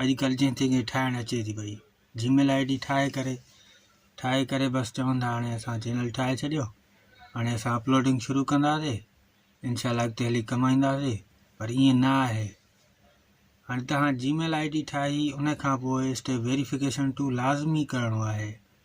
اڄڪلھ جنھن تنھن کي ٺاهڻ اچي ٿي پئي جي ميل آئي ڊي ٺاهي ڪري ٺاهي ڪري بس چون ٿا هاڻي اسان چينل ٺاهي ڇڏيو هاڻي اسان اپلوڊنگ شروع ڪنداسي انشاء الله اڳتي هلي ڪمائينداسي پر ائين نه آهي هاڻي تهان جي ميل آئي ڊي ٺاهي ان کان پوء اسٽيپ ويريفڪيشن ٽو لازمي ڪرڻو آهي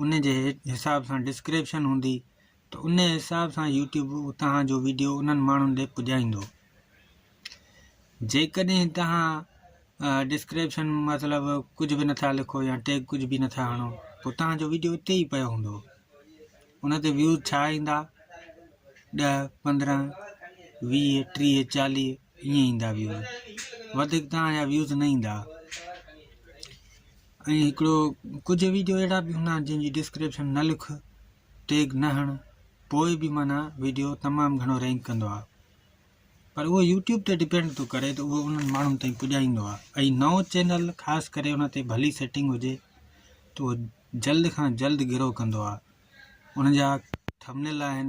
ان جي حساب سان ڊسڪريپشن هوندي ته ان حساب سان يوٽيوب توهان جو ويڊيو انهن ماڻهن ڏي پڄائيندو جيڪڏهن توهان ڊسڪريپشن مطلب ڪجهه به نٿا لکو يا ٽيگ ڪجهه به نٿا هڻو پوء توهان جو ويڊيو اتي ئي پيو هوندو ان تي ويوز ڇا ايندا ڏه پندرهن ويهه ٽيهه چاليهه ائين ايندا ويو وڌيڪ تان جا ويوز نه ايندا ۽ هڪڙو ڪجهه ويڊيو اهڙا به هوندا جن جي ڊسڪرپشن نه لک ٽيگ نه هڻ پوء به معنيٰ ويڊيو تمام گهڻو رينڪ ڪندو آهي پر اهو يوٽيوب تي ڊپينڊ ٿو ڪري ته اهو انهن ماڻهن تائين پڄائيندو آهي ۽ نو چينل خاص ڪري ان تي ڀلي سيٽنگ هجي ته اهو جلد کان جلد گرو ڪندو آهي ان جا ٿمنيل آهن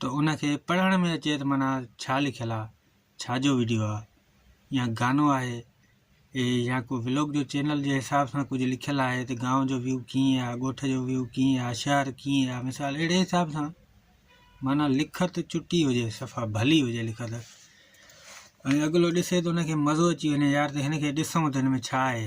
ته ان کي پڙهڻ ۾ اچي ته معنيٰ ڇا لکيل آ ڇا جو وڊيو آ يا گانو آهي اي يا ڪو بلاگ جو چينل جي حساب سان ڪجهه لکيل آهي ته گانو جو ويو ڪيئن آ ڳوٺ جو ويو ڪيئن آ شهر ڪيئن آ مثال اهڙي حساب سان معنيٰ لکت چٽي هجي صفا ڀلي هجي لکت ۽ اڳلو ڏسي ته ان کي مزو اچي وڃي يار ته هن کي ڏسون ته هن ۾ ڇا آهي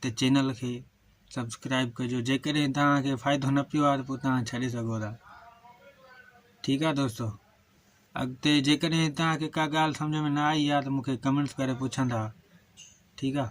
ته چينل کي سبسڪرائب ڪجو جيڪڏهن توهانکي فائدو نه پيو آهي ته پوء توهان ڇڏي سگهو ٿا ٺيڪ آهي دوستو اڳتي جيڪڏهن توهانکي ڪا ڳالهه سمجھ ۾ نه آئي آهي ته مونکي ڪمينٽس ڪري پڇندا ٺيڪ آهي